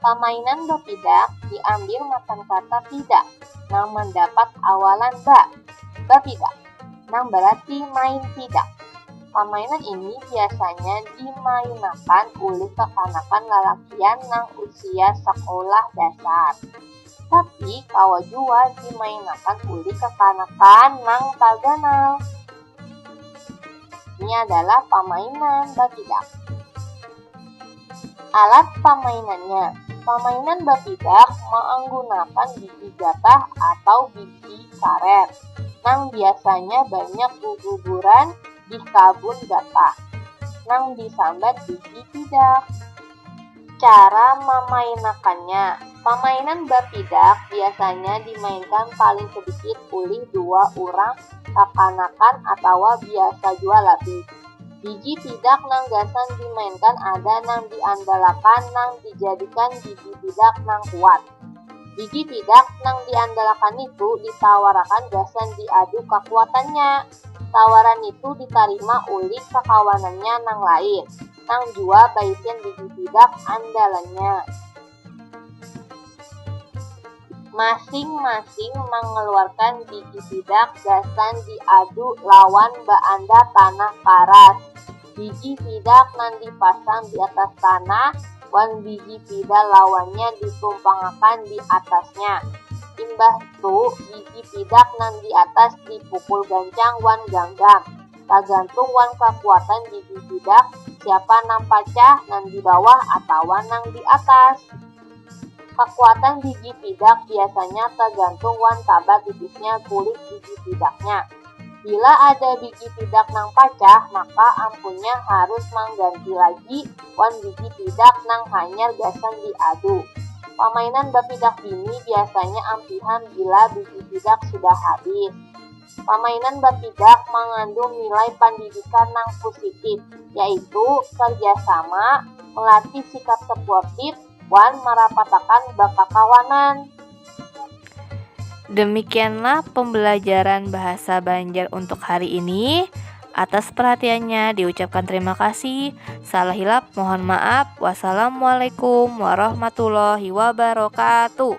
Pamainan bapidak diambil matan kata pidak nang mandapat awalan ba, bapidak, nang bararti main pidak. Pamainan ini biasanya dimainakan ulih kakanakan lalakian nang usia sakulah dasar. Tapi kawa jua dimainakan ulih kakanakan nang taganal. Ini adalah pamainan bapidak. Alat pamainannya Pamainan bapidak maanggunakan bigi gatah atau bigi karet nang biasanya banyak guguburan di kabun gatah nang disambat bigi pidak. Cara mamainakannya Pamainan bapidak biasanya dimainkan paling sedikit ulih dua urang kakanakan atawa biasa jua labih. Bigi pidak nang gasan dimainkan ada nang diandalakan nang dijadikan bigi pidak nang kuat. Bigi pidak nang diandalakan nitu ditawarakan gasan diadu kakuatannya. Tawaran nitu ditarima ulih kakawanannya nang lain, nang jua baisian bigi pidak andalannya. Masing-masing mangaluarkan bigi sidak gasan diadu lawan baanda tanah paras. Bigi sidak nang dipasang di atas tanah wan bigi pida lawannya ditumpangakan di atasnya. Imbah tu bigi sidak nang di atas dipukul gancang wan ganggam. tagantung wan kakuatan gigi sidak siapa nang pacah, nang di bawah atawa nang di atas. Kakuatan gigi sidak biasanya tagantung wan taba tipisnya kulit gigi sidaknya. Bila ada gigi sidak nang pacah, maka ampunnya harus mangganti lagi wan gigi sidak nang hanyar gasan diadu. Pamainan bapidak bini biasanya ampihan bila gigi sidak sudah habis. Pamainan batidak mangandung nilai pandidikan nang pusitif, yaitu karjasama, melatih sikap sepuortif, wan marapatakan bakakawanan. Demikianlah pembelajaran bahasa Banjar untuk hari ini. Atas perhatiannya diucapkan terima kasih. Salah hilap mohon maaf. Wassalamualaikum warahmatullahi wabarakatuh.